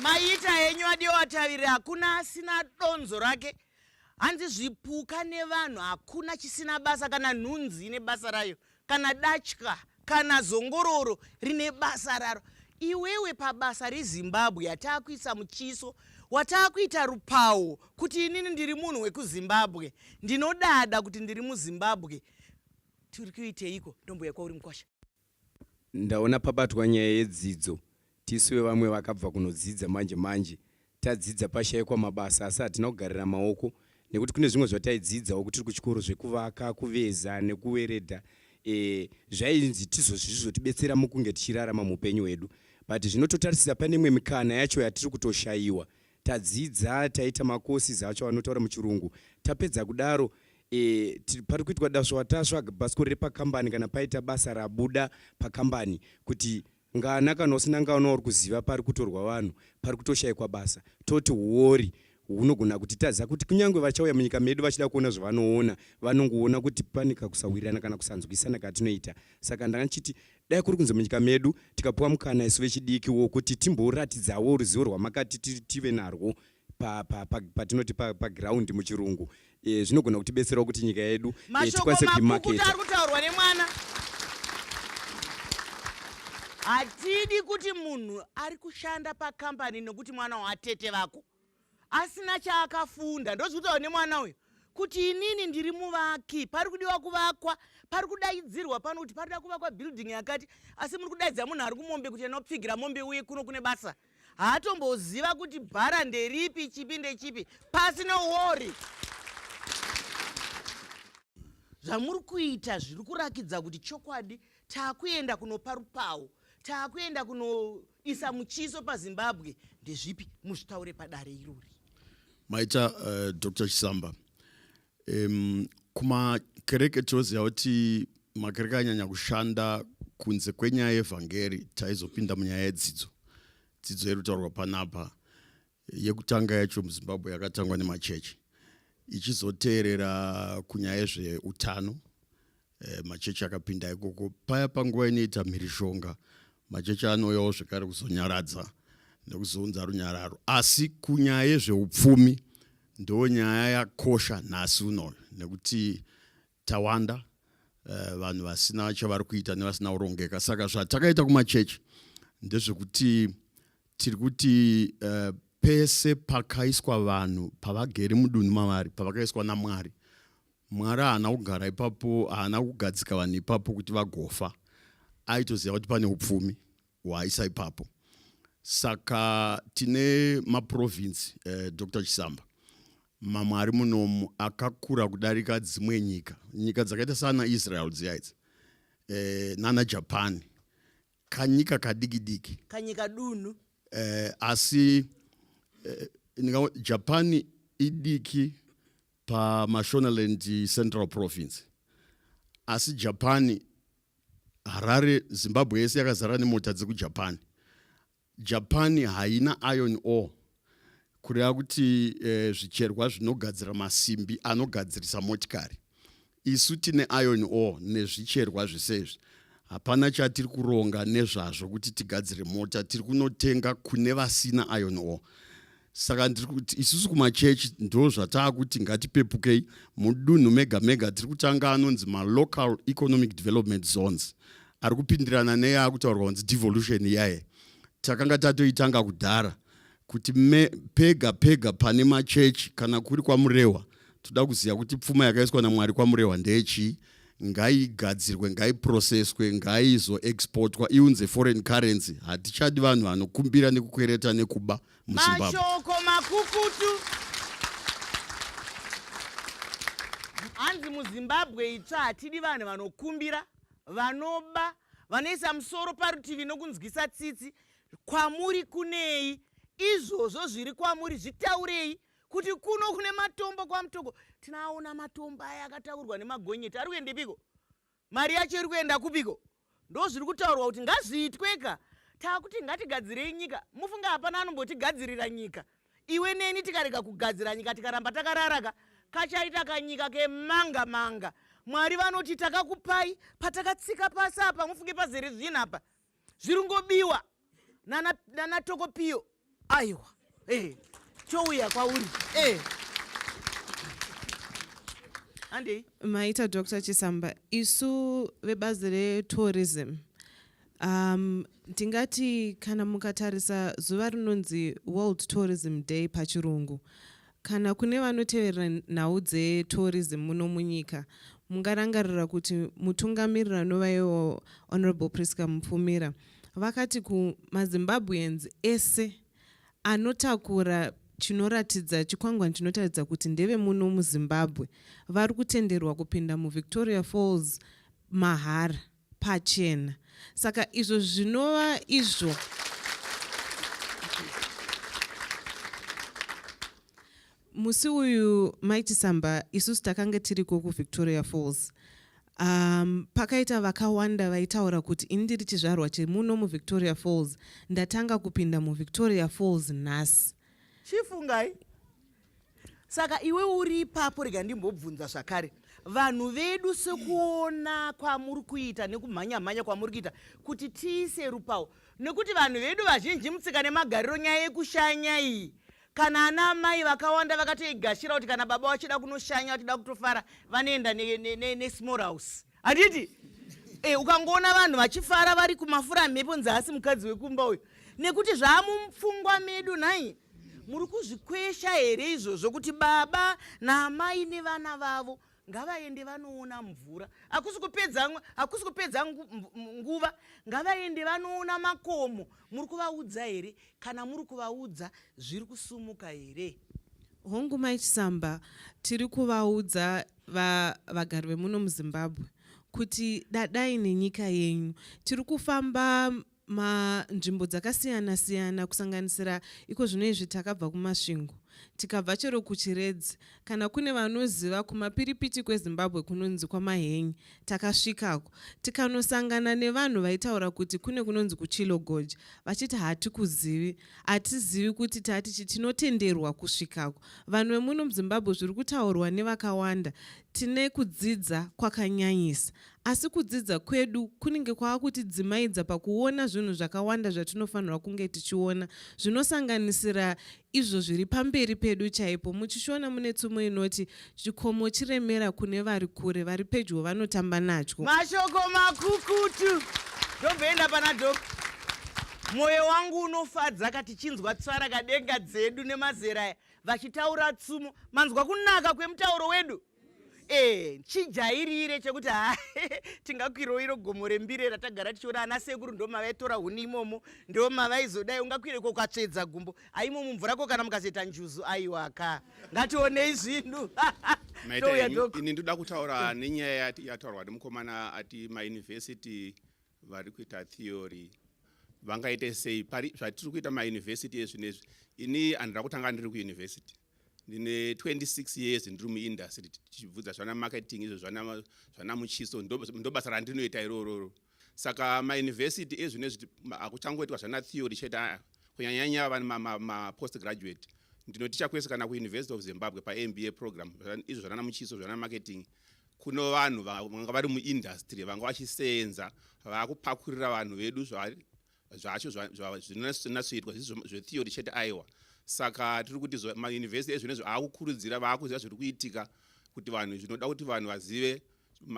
maita henyu adiwa wataviri hakuna asina donzo rake hanzi zvipuka nevanhu hakuna chisina basa kana nhunzi ine basa rayo kana datya kana zongororo rine basa raro iwewe pabasa rezimbabwe yataakuisa muchiso wataakuita rupawo kuti inini ndiri munhu wekuzimbabwe ndinodada kuti ndiri muzimbabwe tiri kuiteiko ndombuya kwauri mukwasha ndaona pabatwa nyaya yedzidzo tisu vevamwe vakabva kunodzidza manje manje Tadzidza pashaikwa mabasa asi hatina kugarira maoko nekuti kune zvimwe zvataidzidzawo kutiri kuchikoro zvekuvaka, kuveza nekuweredha e, zvainzi tizozvizvotibetsera mukunge tichirarama muupenyu hwedu but zvinototarisira pane imwe mikana yacho yatiri kutoshaiwa tadzidza taita macourses acho anotaura muchirungu tapedza kudaro e, pari kuitwa daswa taswa bhasikoro repakambani kana paita basa rabuda pakambani kuti Ngana kana usina ngana uri kuziva pari kutorwa vanhu pari kutoshaikwa basa toti huwori hunogona kutitadza kuti kunyange vachauya munyika medu vachida kuona zvavanoona vanongoona kuti pane kakusawirirana kana kusanzwisana katinoita saka ndanga ndichiti dai kuri kunzi munyika medu tikapiwa mukana isu vechidiki wokuti timboratidzawo ruzivo rwamakati tive narwo pa, pa, pa, patinoti pa, pa ground muchirungu e, zvinogona kutibetserawo kuti nyika yedu e, tikwanise kuimaketa ari kutaurwa nemwana hatidi kuti munhu ari kushanda pakambani nokuti mwana waatete vako asina chaakafunda ndozvitaura nemwana uyu kuti inini ndiri muvaki pari kudiwa kuvakwa pari kudaidzirwa pano kuti parida kuvakwa building yakati asi muri kudaidzira munhu ari kumombe kuti anopfigira mombe uye kuno kune basa haatomboziva kuti bhara nderipi chipi ndechipi pasi nowori zvamuri kuita zviri kurakidza kuti chokwadi taakuenda kunopa rupawo taakuenda kunoisa muchiso pazimbabwe ndezvipi muzvitaure padare irori maita uh, eh, dr chisamba um, kumakereke tinoziva kuti makereke anyanya kushanda kunze kwenyaya yevhangeri taizopinda munyaya yedzidzo dzidzo iri kutaurwa panapa yekutanga yacho muzimbabwe yakatangwa nemachechi ichizoteerera kunyaya yezveutano e, machechi akapinda ikoko paya panguva inoita mhirizhonga machechi anouyawo zvekare kuzonyaradza nekuzounza runyararo asi kunyaya yezveupfumi ndo nyaya yakosha nhasi unoyo nekuti tawanda uh, vanhu vasina chavari kuita nevasina kurongeka saka zvatakaita kumachechi ndezvekuti tiri kuti uh, pese pakaiswa vanhu pavagere mudunhu mavari pavakaiswa namwari mwari haana kugara ipapo haana kugadzika vanhu ipapo kuti vagofa aitoziva kuti pane upfumi hwaaisa ipapo saka tine maprovince eh, dr chisamba mamwe ari munomu akakura kudarika dzimwe nyika nyika dzakaita sana israel dziya idzi eh, nana japan kanyika kadiki diki kanyika dunhu eh, asi eh, ndinga japan idiki pamashonaland central province asi japan harare zimbabwe yese yakazara nemota dzekujapan Japan haina iron ore kureva kuti eh, zvicherwa zvinogadzira masimbi anogadzirisa motikari isu tine iron ore nezvicherwa zvese izvi hapana chatiri kuronga nezvazvo kuti tigadzire mota tiri kunotenga kune vasina iron ore saka ndiri kuti isusu kumachechi ndo zvataakuti ngatipepukei mudunhu mega mega tiri kutanga anonzi malocal economic development zones ari kupindirana neyaakutaurwa kunzi devolution iyaye takanga tatoitanga kudhara kuti me, pega pega pane machechi kana kuri kwamurehwa toda kuziva kuti pfuma yakaiswa namwari kwamurehwa ndeyechii ngaigadzirwe ngaiproceswe ngaizoexportwa iunze foreign currency hatichadi vanhu vanokumbira nekukwereta nekuba muzimbabwe mashoko makukutu hanzi muzimbabwe itsva hatidi vanhu vanokumbira vanoba vanoisa musoro parutivi nokunzwisa tsitsi kwamuri kunei izvozvo zviri kwamuri zvitaurei kuti kuno kune matombo kwamutoko tinaona matombo aya akataurwa nemagonyeti ari kuendepiko Mari yacho iri kuenda kupiko? Ndozviri kutaurwa kuti ngazviitweka. Takuti ngatigadzirei nyika. Mufunge hapana anombotigadzirira nyika. Iwe neni tikarega kugadzira nyika tikaramba takararaka kachaita kanyika kemanga manga. Mwari vanoti takakupai patakatsika pasi apa mufunge pazere zvinhu apa. zviringobiwa nana, nana tokopiyo aiwa hey. Eh, chouya kwauri hey. Eh. andei maita dr chisamba isu vebazi retourism um, ndingati kana mukatarisa zuva rinonzi world tourism day pachirungu Kana kune vanoteverera nhau dzetourism muno munyika, mungarangarira kuti mutungamiriri anova iwo Honourable Prisca Mupfumira vakati kumaZimbabweans ese anotakura chinoratidza chikwangwani chinotaridza kuti ndeve muno muzimbabwe vari kutenderwa kupinda muvictoria falls mahara pachena saka izvo zvinova izvo musi uyu maichisamba isusu takange tiriko kuvictoria falls um, pakaita vakawanda vaitaura kuti ini ndiri chizvarwa chemuno muvictoria falls ndatanga kupinda muvictoria falls nhasi chifungai saka iwe uri ipapo rega ndimbobvunza zvakare vanhu vedu sekuona kwamuri kuita nekumhanya mhanya kwamuri kuita kuti tiise rupawo nekuti vanhu vedu vazhinji mutsika nemagariro nyaya yekushanya iyi kana ana amai vakawanda vakatoigashira kuti kana baba vachida kunoshanya vachida kutofara vanoenda nesmall house handiti e, ukangoona vanhu vachifara vari kumafura mhepo nzasi mukadzi wekumba uyu nekuti zvaamupfungwa medu nhai muri kuzvikwesha here izvozvo kuti baba naamai nevana vavo ngavaende vanoona mvura hakusi kupedza hakusi kupedza nguva ngavaende vanoona makomo muri kuvaudza here kana muri kuvaudza zviri kusumuka here hongu maichisamba tiri kuvaudza Va, vagari vemuno muzimbabwe kuti dadai nenyika yenyu tiri kufamba manzvimbo dzakasiyana siyana kusanganisira iko zvino izvi takabva kumasvingo tikabva chero kuchiredzi kana kune vanoziva kumapiripiti kwezimbabwe kunonzi kwamahenyi takasvikako tikanosangana nevanhu vaitaura kuti kune kunonzi kuchilogoja vachiti hatikuzivi hatizivi kuti tati chi tinotenderwa kusvikako vanhu vemuno muzimbabwe zviri kutaurwa nevakawanda tine kudzidza kwakanyanyisa asi kudzidza kwedu kunenge kwava kutidzimaidza pakuona zvinhu zvakawanda zvatinofanirwa kunge tichiona zvinosanganisira izvo zviri pamberi pedu chaipo muchishona mune tsumo inoti Chikomo chiremera kune vari kure, vari pedyo vanotamba nacho. Mashoko makukutu ndobvenda pana dok mwoyo wangu unofadza ka tichinzwa tsvara kadenga dzedu nemazera aya vachitaura tsumo manzwa kunaka kwemutauro wedu e chijairire chekuti ha tingakwiroiro gomo rembire ratagara tichiona ana sekuru ndomavaitora huni imomo ndomavaizodai ungakwireko ukatsvedza gumbo aimo mumvura ko kana mukazoita njuzu aiwa ka ngationei zvinhu ini ndoda kutaura nenyaya yataurwa nemukomana ati mayunivhesiti vari kuita theory vangaite sei pari zvatiri kuita mayunivhesiti ezvinezvi ini handira kutanga ndiri kuyunivhesiti ndine 26 years ndiri muindustry tichibvudza zvana marketing izvo zvana muchiso ndobasa randinoita irororo saka mauniversity ezvino ezvi akuchangoitwa zvana theory chete aya kunyanyanya vani mapost graduate ndinoticha kwese kana kuuniversity of zimbabwe pamba program izvo zvanana muchiso zvana marketing kuno vanhu vanga vari muindustry vanga vachiseenza vakupakurira vanhu vedu zvacho zvinonatsoitwa zvetheory chete aiwa saka tiri kuti mayunivhesiti ezvinezvo aakukurudzira vaakuziva zviri kuitika kuti vanhu zvinoda kuti vanhu vazive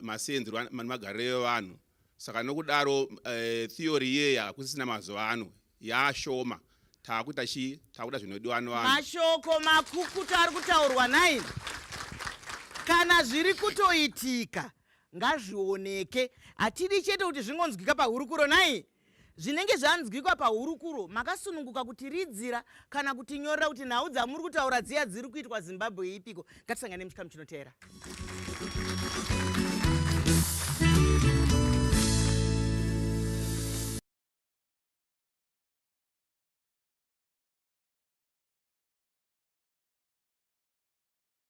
maseenzero nemagariro evanhu saka nokudaro eh, theory iyeyi hakusisina mazuva ano yaashoma taakuita chii taakuita zvinodiwa nevanhu mashoko makukutu ari kutaurwa nai kana zviri kutoitika ngazvioneke hatidi chete kuti zvingonzwika pahurukuro nhai zvinenge zvanzwikwa pahurukuro makasununguka kutiridzira kana kutinyorera kuti nhau dzamuri kutaura dziya dziri kuitwa zimbabwe yeipiko ngatisangane muchikamu chinoteera